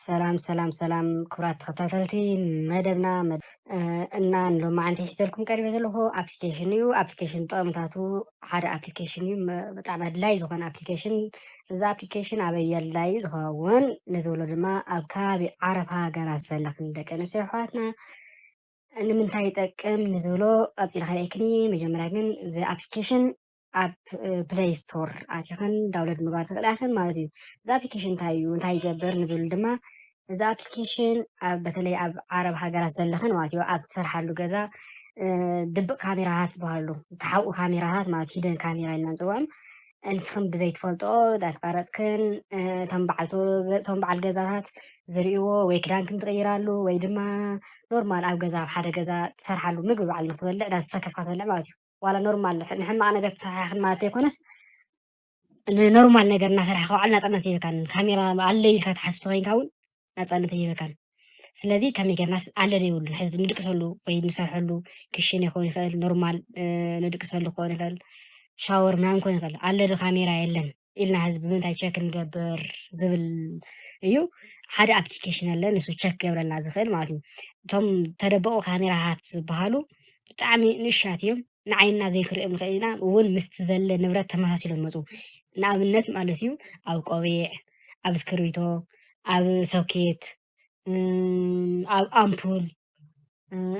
ሰላም ሰላም ሰላም ክብራት ተኸታተልቲ መደብና እና ሎማዓንቲ ሒዘልኩም ቀሪበ ዘለኹ ኣፕሊኬሽን እዩ ኣፕሊኬሽን ጥቕምታቱ ሓደ ኣፕሊኬሽን እዩ ብጣዕሚ ኣድላይ ዝኾነ ኣፕሊኬሽን እዚ ኣፕሊኬሽን ኣበይ ኣድላይ ዝኸውን ንዝብሎ ድማ ኣብ ከባቢ ዓረብ ሃገራት ዘለኽን ደቂ ኣንስትዮ ኣሕዋትና ንምንታይ ይጠቅም ንዝብሎ ቀፂል ከርእክኒ መጀመርያ ግን እዚ ኣፕሊኬሽን ኣብ ፕለይ ስቶር ኣቲኽን ዳውንሎድ ምግባር ትኽእላ ኢኽን ማለት እዩ እዚ ኣፕሊኬሽን እንታይ እዩ እንታይ ይገብር ንዝብሉ ድማ እዚ ኣፕሊኬሽን በተለይ ኣብ ዓረብ ሃገራት ዘለኽን ማለት እዩ ኣብ ትሰርሓሉ ገዛ ድብቅ ካሜራታት ዝበሃሉ ዝተሓብኡ ካሜራታት ማለት ሂደን ካሜራ ኢና ንፅውዖም ንስኽን ብዘይትፈልጥኦ ዳተቀረፅክን እቶም በዓልቶ እቶም በዓል ገዛታት ዝርእይዎ ወይ ክዳንክን ትቕይራሉ ወይ ድማ ኖርማል ኣብ ገዛ ኣብ ሓደ ገዛ ትሰርሓሉ ምግቢ በዓል ንክትበልዕ ዳተሰከፍካ ትበልዕ ማለት እዩ ዋላ ኖርማል ንሕማቅ ነገር ተሰራሕክን ማለት ዘይኮነስ ንኖርማል ነገር እናሰራሕ ከውዓል ናፃነት ይበካን ካሜራ ኣለ ኢልካ ትሓስብ ኮይንካ እውን ናፃነት ይበካን ስለዚ ከመይ ጌርናስ ኣለ ዘይብሉን ሕዚ ንድቅሰሉ ወይ ንሰርሐሉ ክሽን ይኸውን ይኽእል ኖርማል ንድቅሰሉ ክኸውን ይኽእል ሻወር ምናምን ክኸውን ይኽእል ኣለ ዶ ካሜራ የለን ኢልና ህዝቢ ብምንታይ ቸክ ንገብር ዝብል እዩ ሓደ ኣፕሊኬሽን ኣለ ንሱ ቸክ ገብረልና ዝኽእል ማለት እዩ እቶም ተደበቑ ካሜራታት ዝበሃሉ ብጣዕሚ ንእሻት እዮም ንዓይንና ዘይክሪኦም ንኽእል ኢና እውን ምስቲ ዘለ ንብረት ተመሳሲሎም መፁ ንኣብነት ማለት እዩ ኣብ ቆቢዕ ኣብ እስክርቢቶ ኣብ ሶኬት ኣብ ኣምፑል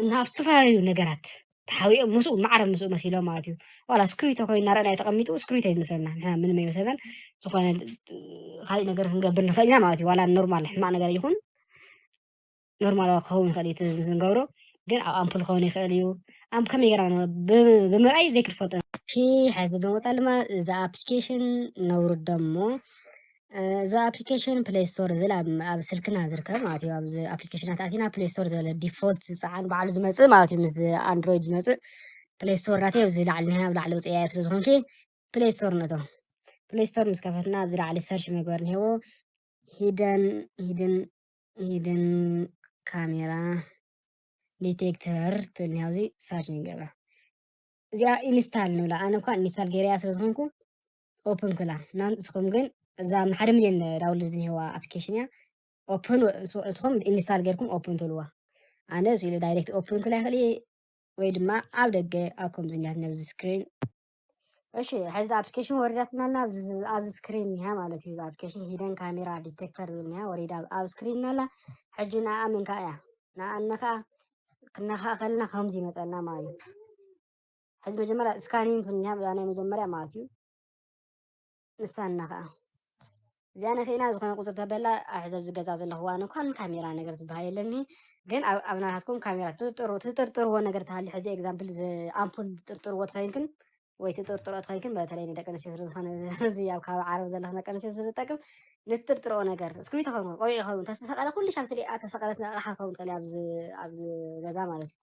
እና ኣብ ዝተፈላለዩ ነገራት ተሓዊኦም ምስኡ ማዕረ ምስኡ መሲሎም ማለት እዩ ዋላ ስክሪቶ ኮይኑ እናረኣና እዩ ተቐሚጡ ስክሪቶ እዩ ዝመስለና ንሕና ምንም ኣይመስለናን ዝኾነ ካልእ ነገር ክንገብር ንኽእል ኢና ማለት እዩ ዋላ ኖርማል ሕማቕ ነገር ይኹን ኖርማል ክኸውን ይኽእል እዩ እቲ ዝንገብሮ ግን ኣብ ኣምፑል ክኸውን ይኽእል እዩ ኣም ከመይ ጌርና ንብሎ? ብ- ብምርኣይ ዘይክትፈልጦ ሕዚ ብምቕፃል ድማ እዚ ኣፕሊኬሽን ነውርዶ እሞ እዚ ኣፕሊኬሽን ፕሌይ ስቶር ዝል ኣብ ስልክና ዝርከብ ማለት እዩ ኣብዚ ኣፕሊኬሽናት ኣቲና ፕሌይ ስቶር ዝበለ ዲፎልት ዝፀዓን በዓሉ ዝመፅእ ማለት እዩ ምስ ኣንድሮይድ ዝመፅእ ፕሌይ ስቶር ናተይ ኣብዚ ላዕሊ ኒሃ ኣብ ላዕሊ ውፅያየ ስለ ዝኾንኪ ፕሌይ ስቶር ነቶ ፕሌይ ስቶር ምስ ከፈትና ኣብዚ ላዕሊ ሰርች መግበር ኒሄዎ ሂደን ሂድን ሂድን ካሜራ ዲቴክተር ትብል ኒሃ ኣብዚ ሰርች ንገብራ እዚኣ ኢንስታል ንብላ ኣነ እኳ ኢንስታል ገይረያ ስለ ዝኾንኩ ኦፕን ክላ ንስኹም ግን እዛ ሓደ ሚልዮን ዳውንሎድ ዝኒህዋ ኣፕሊኬሽን እያ ኦፕን እስኹም ኢንስታል ጌርኩም ኦፕን ትብልዋ ኣነ እዚ ኢሉ ዳይሬክት ኦፕን ክላ ይኽእል ወይ ድማ ኣብ ደገ ኣብ ከምዚ እኒያት ነብዚ ስክሪን እሺ ሕዚ ኣፕሊኬሽን ወሪዳትና ኣላ ኣብዚ ስክሪን እኒሃ ማለት እዩ እዚ ኣፕሊኬሽን ሂደን ካሜራ ዲቴክተር ዝብል እኒሃ ወሪዳ ኣብ ስክሪን ኣላ ሕጂ ንኣ ምንካ እያ ንኣ እንኸኣ ክነኸኣ ከለና ከምዚ ይመፀና ማለት እዩ ሕዚ መጀመርያ ስካኒን ክንያ እዛ ናይ መጀመርያ ማለት እዩ ንሳና ከዓ እዚኣ ነክእና ዝኾነ ቁፅሪ ተበላ ኣሕዚ ኣብዚ ገዛ ዘለኹዋ እንኳን ካሜራ ነገር ዝበሃል የለኒ ግን ኣብ ናታትኩም ካሜራ ትጥርጥርዎ ነገር ተሃልዩ ሕዚ ኤግዛምፕል ኣምፑል ትጥርጥርዎ ትኸይንክን ወይ ትጥርጥሮ ትኸይንክን በተለይ ንደቂ ኣንስትዮ ስለዝኾነ እዚ ኣብ ከባቢ ዓረብ ዘለኹ ደቂ ኣንስትዮ ስለዝጠቅም ንትጥርጥርኦ ነገር እስክሪብቶ ይኸውን ቆቢዕ ይኸውን ተስተሰቐለ ኩሉ ሻብ ትሪኣ ተሰቐለት ኣቕሓ ትኸውን ትኽእል ኣብዚ ገዛ ማለት እዩ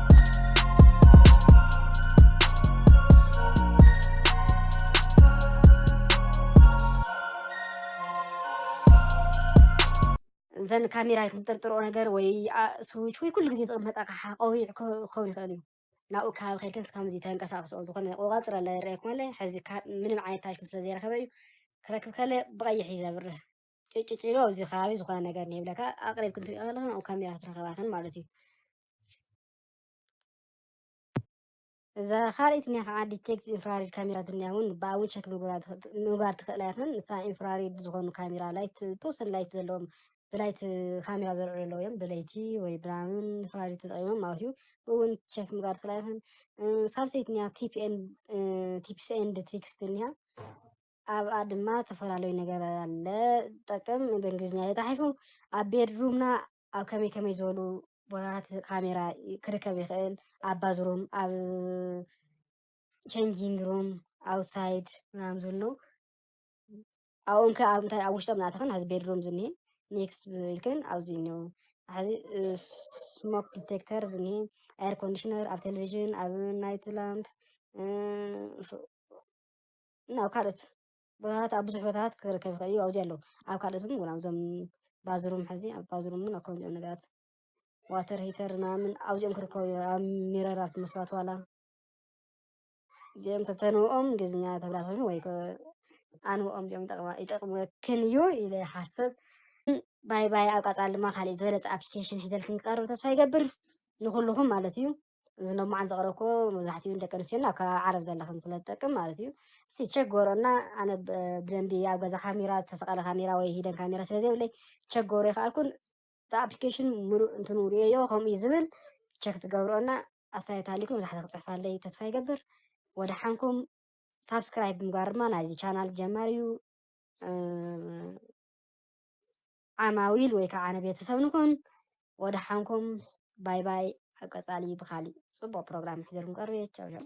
እዘን ካሜራ ክንጥርጥሮ ነገር ወይ ስዊች ወይ ኩሉ ግዜ ዝቕመጥ ኣቕሓ ቆቢዕ ክኸውን ይኽእል እዩ ናብኡ ከባቢ ከይከንስ ከምዚ ተንቀሳቕስኦ ዝኾነ ቆቓፅረ ለ ይረኣየኩም ኣለ ሕዚ ምንም ዓይነት ታሽሙ ስለ ዘይረኸበ እዩ ክረክብ ከለ ብቐይሕ እዩ ዘብርህ ጭጭጭሎ ኣብዚ ከባቢ ዝኾነ ነገር ንብለካ ኣቕሪብ ክንትሪኦ ከለኻ ናብኡ ካሜራ ትረኸባኽን ማለት እዩ እዛ ካልኣይቲ እኒኣ ከዓ ዲቴክት ኢንፍራሪድ ካሜራ ትኒኣ እውን ብኣ እውን ቸክ ምግባር ትኽእላ ይኽን ንሳ ኢንፍራሪድ ዝኾኑ ካሜራ ላይት ተወሰኑ ላይት ዘለዎም ብላይት ካሜራ ዘልዕሉ ኣለዉ እዮም ብለይቲ ወይ ብራምን ኢንፍራሪድ ተጠቂሞም ማለት እዩ ብኡ እውን ቸክ ምግባር ትኽእላ ይኽን ሳልሰይቲ እኒኣ ቲፕስ ኤንድ ትሪክስ ትኒኣ ኣብኣ ድማ ዝተፈላለዩ ነገር ኣለ ዝጠቅም ብእንግሊዝኛ ተፃሒፉ ኣብ ቤድሩምና ኣብ ከመይ ከመይ ዝበሉ ቦታታት ካሜራ ክርከብ ይኽእል ኣብ ባዝሩም ኣብ ቸንጂንግ ሩም ኣውትሳይድ ምናምን ዝብሉ ኣብኦም ከ ኣብ እንታይ ኣብ ውሽጦም ናትኽን ኣብዚ ቤድሩም ዝኒሀ ኔክስት ኢልክን ኣብዚ እኒኦ ሕዚ ስሞክ ዲቴክተር ዝኒሀ ኤር ኮንዲሽነር ኣብ ቴሌቪዥን ኣብ ናይት ላምፕ ናብ ካልኦት ቦታታት ኣብ ብዙሕ ቦታታት ክርከብ ይኽእል እዩ ኣብዙ ኣሎ ኣብ ካልኦት ውን ውን ኣብዞም ባዝሩም ሕዚ ኣብ ባዝሩም ውን ኣብ ከምዚ ኦም ነገራት ዋተር ሂተር ምናምን ኣብዚኦም ክርከቡ እዮም ኣብ ሚረር ኣብቲ መስዋት ዋላ እዚኦም ተተንብኦም እንግሊዝኛ ተብላ ኮይኑ ወይ ኣንብኦም እዚኦም ይጠቕመክን እዩ ኢለ ይሓስብ ባይ ባይ ኣብ ቀፃሊ ድማ ካሊእ ዝበለፀ ኣፕሊኬሽን ሒዘልክን ክቐርብ ተስፋ ይገብር ንኹልኹም ማለት እዩ እዚ ሎማዓንቲ ዘቕረብክዎ መብዛሕትኡ ንደቂ ኣንስትዮ ናብ ከባቢ ዓረብ ዘለኽን ስለ ዝጠቅም ማለት እዩ እስቲ ቸክ ጎሮና ኣነ ብደንቢ ኣብ ገዛ ካሜራ ዝተሰቐለ ካሜራ ወይ ሂደን ካሜራ ስለ ዘይብለይ ቸክ ጎሮ ይኸኣልኩን እቲ ኣፕሊኬሽን ምሉእ እንትኑ ርእየዮ ከምኡ እዩ ዝብል ቸክ ትገብርኦና ኣስተያየት ሃሊኩም ብታሕቲ ክፅሕፋለይ ተስፋ ይገብር ወደሓንኩም ሳብስክራይብ ምግባር ድማ ናይዚ ቻናል ጀማር እዩ ዓማዊል ወይ ካዓ ንቤተሰብ ንኩን ወደሓንኩም ባይ ባይ ኣብ ቀፃሊ ብካሊእ ፅቡቅ ፕሮግራም ሒዘልኩም ቀርብ እየ ቻው ቻው።